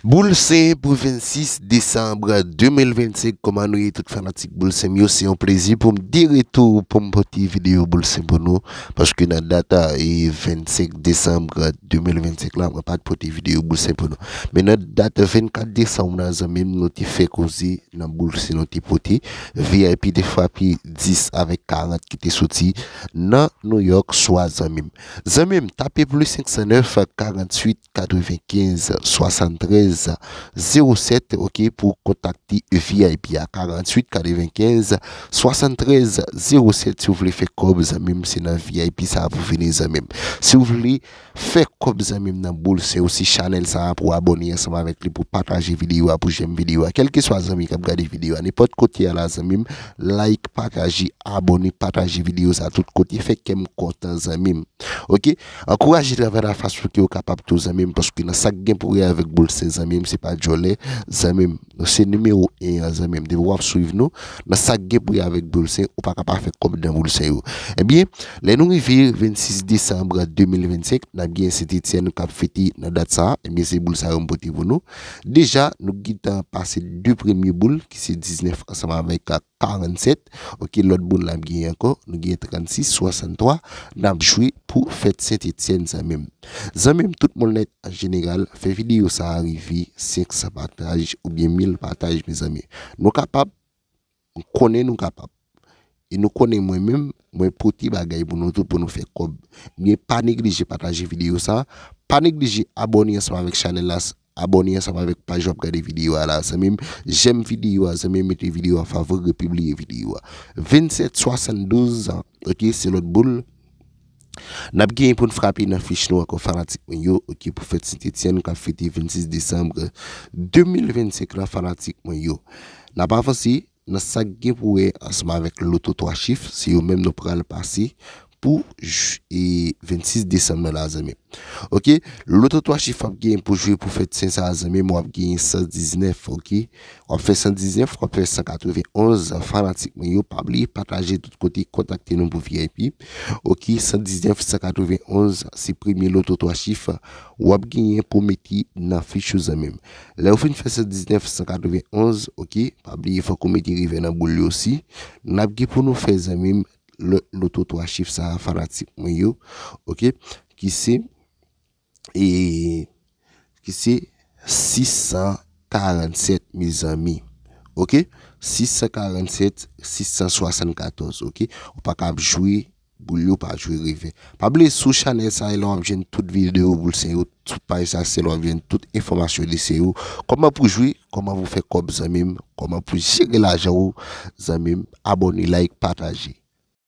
Boul se pou 26 desanb 2025 kòman nou ye tout fanatik boul sem yo se yon plezi poum de retou poum pote video boul sem pou nou paske nan dat 25 desanb 2025 la mwen pat pote video boul sem pou nou men nan dat 24 desanm nan zanmim nou te fè koze nan boul sem nou te pote vip te frape 10 avèk 40 ki te soti nan New York swa zanmim zanmim tape plus 509 48 95 73 07 ok pou kontakte vip a 48 95 73 07 si ou vle fè kòb zanmim se nan vip sa pou vini zanmim si ou vle fè kòb zanmim nan boul se ou se chanèl sa pou abòne ansanm avèk li pou pataje videyo a pou jèm videyo a kèlke swa zanmi kap gade videyo a nenpòt kote a la zanmim like pataje abòne pataje videyo sa tout kote fè kèm kontan zanmim ok. Ankouraje travay la fason ke ou kapab tou zanmim paske nan sak gen pou wè avèk boul sen zanmim se pa djòlè zanmim nou se nimewo 1 an zanmim depi wap swiv nou nan sak gen pou wè avèk boul sen ou pa ka pa fè kòb nan boul sen yo ebyen lè nou rive 26 desanm 2025 nap gen sentetyèn kap fete nan dat sa ebyen se boul sa yo m pote pou nou deja nou gintan pase 2 premye boul ki se 19 ansanm avèk 47 ok lòt moun lap gen ankò nou gen 36 63 nap jwe pou fèt sentetyenn zanmim zanmim tout moun lèt an jeneral fè videyo sa rive 500 pataj oubyen 1000 pataj mezanmi nou kapab m konnen nou kapab e nou konnen mwen menm mwen pote bagay pou nou tou pou nou fè kòb ebyen pa neglije pataje videyo sa pa neglije abòne ansanm avèk chanèl la Abòne ansanm avèk paj wap gade videyo a la zanmim jèm videyo a zanmim mete videyo a favori repibliye videyo a 27 72 ans ok se lòt boul Nap genyen poun frape nan fich nou ankò fanatik mwen yo ok pou fèt sentetyenn kap fete 26 desanm 2025 la fanatik mwen yo Nap avanse Nan sa k gen pou wè ansanm avèk loto 3 chif, se yo menm nou pral pase pou j 26 desanm nan la zanmi. Ok, loto 3 chif wap genyen pou jwe pou fèt sen sa a zanmim wap genyen 119 ok, wap fè 119, wap fè 191 fanatik mwen yo pa bliye pataje tout kote kontakte nou pou vip ok, 119, 191 se premye loto 3 chif wap genyen pou mete nan fich ou zanmim. Lè ou fin fè 119 191 ok pa bliye fòk ou mete revè nan boul yo si nap gen pou nou fè zanmim lòt loto 3 chif sa fanatik mwen yo ok ki se e ki se 647 mezanmi ok 647 674 ok ou paka ap jwe Boul yo pa jwe reve. Pa bliye sou chanèl sa e la wap jwenn tout video boul se yo sou paj sa se la wap jwenn tout enfòmasyon li se yo kòman pou jwe kòman pou fè kòb zanmim kòman pou jere lajanw zanmim abòne like pataje.